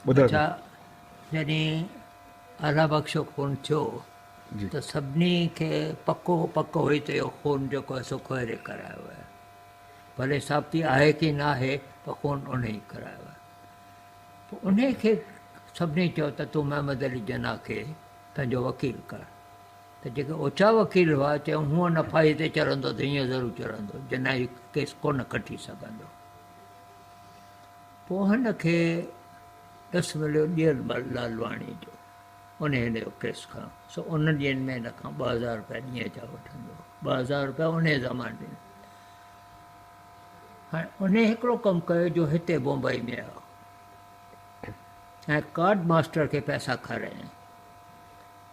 اڇا جڏهن الله بخش جو خون ٿيو ته سڀني کي پڪو پڪ هئي ته اهو خون جيڪو آهي سو ڪهري ڪرايو آهي ڀلي ثابتي آهي ڪي نه آهي پر خون ان ئي ڪرايو آهي پوء ان کي سڀني چيو ته تون محمد علي جناح کي پنهنجو وڪيل ڪر ته جيڪي اوچا وڪيل هئا، چيائون، هونء نه ڦاهي تي چڙهندو ته هينئن ضرور چڙهندو، جي نه هي ڪيس ڪونه کٽي سگهندو. پوء هن کي ڏس مليو ڏيئل مل لالواڻيء جو. ان هن جو ڪيس کڻيو. سو انهن ڏينهن ۾ هن کان ٻه هزار روپيا ڏينهن جا وٺندو هو. ٻه هزار روپيا انهيء زماني ۾. هاڻي انهيء هڪڙو ڪم ڪيو جو هتي بمبئيء ۾ آيو ۽ ڪارڊ ماسٽر کي پئسا کارايائين.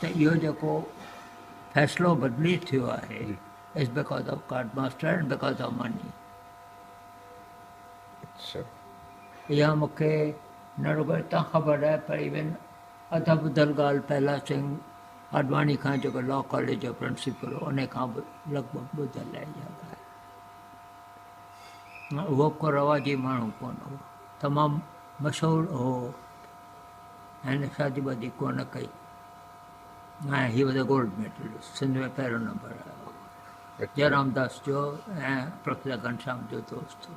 ته اهو جيڪو فيصلو بدلي ٿيو آهي it's because of card master and because of money اها مون کي نه رڳو هتان خبر آهي پر ايون اڌ ٻڌل ڳالهه پهلا سنگهه آڏواڻي کان جيڪو لا ڪاليج جو پرنسپل هو ان کان به لڳ ڀڳ ٻڌل آهي اها ڳالهه اهو ڪو رواجي ماڻهو ڪونه هو تمام مشهور هو هن شادي وادي ڪونه ڪئي ۽ he was a gold medalist Sindh ۾ پهريون نمبر آيو هو جئرام داس جو ۽ پروفيسر گهنشام جو دوست هو